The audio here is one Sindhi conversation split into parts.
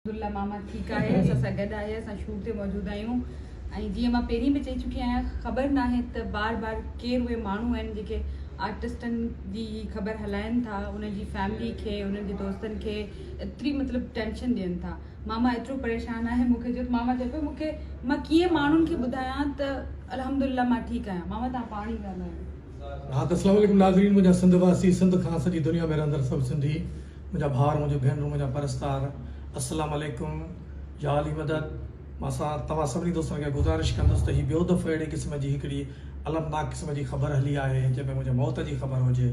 عبدالله ماما ٺيڪ آهي اسان سان گڏ آهي اسان شور تي موجود آهيون ۽ جيئن مان پهرين به چئي چڪي آهيان خبر ناهي ته بار بار ڪير اهي ماڻهو آهن جيڪي آرٽسٽن جي هي خبر هلائن ٿا انهن جي فيملي کي انهن جي دوستن کي ايتري مطلب ٽينشن ڏين ٿا ماما ايترو پريشان آهي مونکي جو ماما چئي پيو مونکي مان ڪيئن ماڻهن کي ٻڌايان ته الحمدلله مان ٺيڪ آهيان ماما تان پاڻ ئي ڳالهايو ها ته السلام عليڪم ناظرين منهنجا سنڌ واسي سنڌ کان سڄي دنيا ۾ رهندڙ سڀ سنڌي منهنجا ڀائر منهنجون ڀينرون منهنجا پرستار السلام عليڪم يا علي مدد مان سان توهان سڀني دوستن کي گذارش ڪندس ته هي ٻيو دفعو اهڙي قسم جي هڪڙي المناڪ قسم جي خبر هلي آهي جنهن ۾ منهنجي موت جي خبر هجي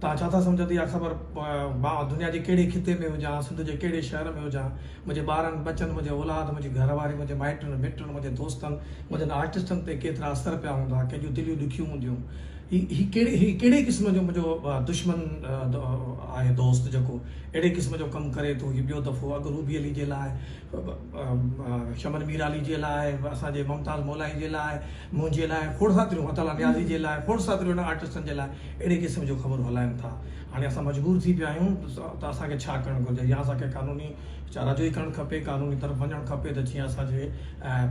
توهان ڇا ٿا سمجهن ته اها خبر مان دنيا جي ڪهڙي خطي ۾ هجان سنڌ جي ڪهڙي شهر ۾ هجان منهنجي ٻارن ٻچن منهنجي اولاد منهنجي گهر واري منهنجي مائٽن مٽن منهنجي دوستن منهنجن آرٽسٽن تي ڪيترا اثر پيا هوندا ڪنهن جون دليون ڏکيون هونديون هي ڪهڙي هي ڪهڙي قسم جو منهنجو دشمن آهي دوست جيڪو اهڙي قسم جو ڪم ڪري ٿو هي ٻيو دفعو اڳ روبي علي جي لاء شمن ميرعلي جي لاء اسان جي ممتاز مولائي جي لاء منهنجي لاء کوڙ ساتريون مطلع نيازي جي لاء کوڙ ساتريون آرٽسٽن جي لاء اهڙي قسم جون خبرون هلائن ٿا هاڻي اسان مجبور ٿي پيا آهيون ته اسان کي ڇا ڪرڻ گهرجي يا اسان کي قانوني چارج ئي ڪرڻ کپي قانون جي طرف وڃڻ کپي ته جيئن اسان جي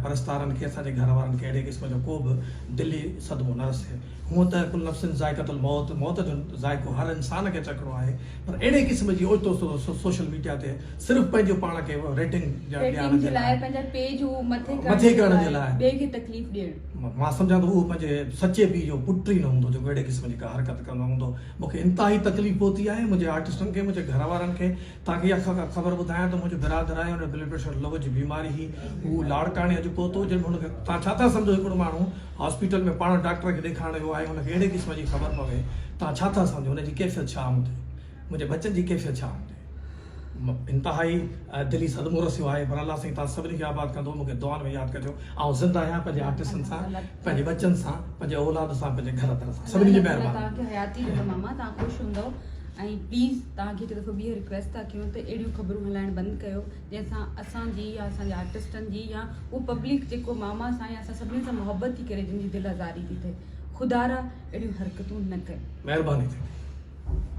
پرستارن کي اسان جي گهر وارن کي اهڙي قسم جو ڪو به دلي صدمو نه رسي هونء ته ڪل نفس ذائقة الموت موت جو ذائقو هر انسان کي چکڻو آهي پر اهڙي قسم جي اوچتو سوشل ميڊيا تي صرف پنهنجو پاڻ کي ريٽنگ ڏيارڻ جي لاء پنهنجا پيج مٿي ڪرڻ جي لاء ٻئي کي تڪليف ڏيڻ مان سمجهان ٿو اهو پنهنجي سچي پيء جو پٽ ئي نه هوندو جيڪو اهڙي قسم جي ڪا حرڪت ڪندو هوندو مون کي انتهائي تڪليف پهتي آهي منهنجي آرٽسٽن کي منهنجي گهر وارن کي تاکي اھا خبر ٻڌايان ته منھنجو برادر آھي ھن بلڊ پريشر لو جي بيماري ھي ھو لاڙڪاڻي اڄ پھتو جنھن ۾ ھن کي توھان ڇا ٿا سمجھو ھڪڙو ماڻھو ھاسپيٽل ۾ پاڻ ڊاڪٽر کي ڏيکارڻ ويو آھي ھن کي اھڙي قسم جي خبر پوي توھان ڇا ٿا سمجھو ھن جي ڪيفيت ڇا ھوندي منھنجي ٻچن جي ڪيفيت ڇا ھوندي انتھائي دلي صدمو رسيو آھي پر الله سائين توھان سڀني کي آباد ڪندو مون کي دعائن ۾ ياد ڪجو آئون زنده آھيان پنھنجي آرٽسن سان پنھنجي ٻچن سان پنھنجي اولاد سان پنھنجي گھر در سان سڀني جي مھرباني ۽ پليز توهان کي هڪ دفعو ٻيهر رڪويسٽ ٿا ڪيون ته اهڙيون خبرون هلائڻ بند ڪيو جنهن سان اسان جي يا اسان جي آرٽسٽن جي يا اهو پبلڪ جيڪو ماما سان يا اسان سڀني سان محبت ٿي ڪري جن جي دل آزاري ٿي ٿئي خدارا اهڙيون حرڪتون نه ڪيو مهرباني ٿيندي.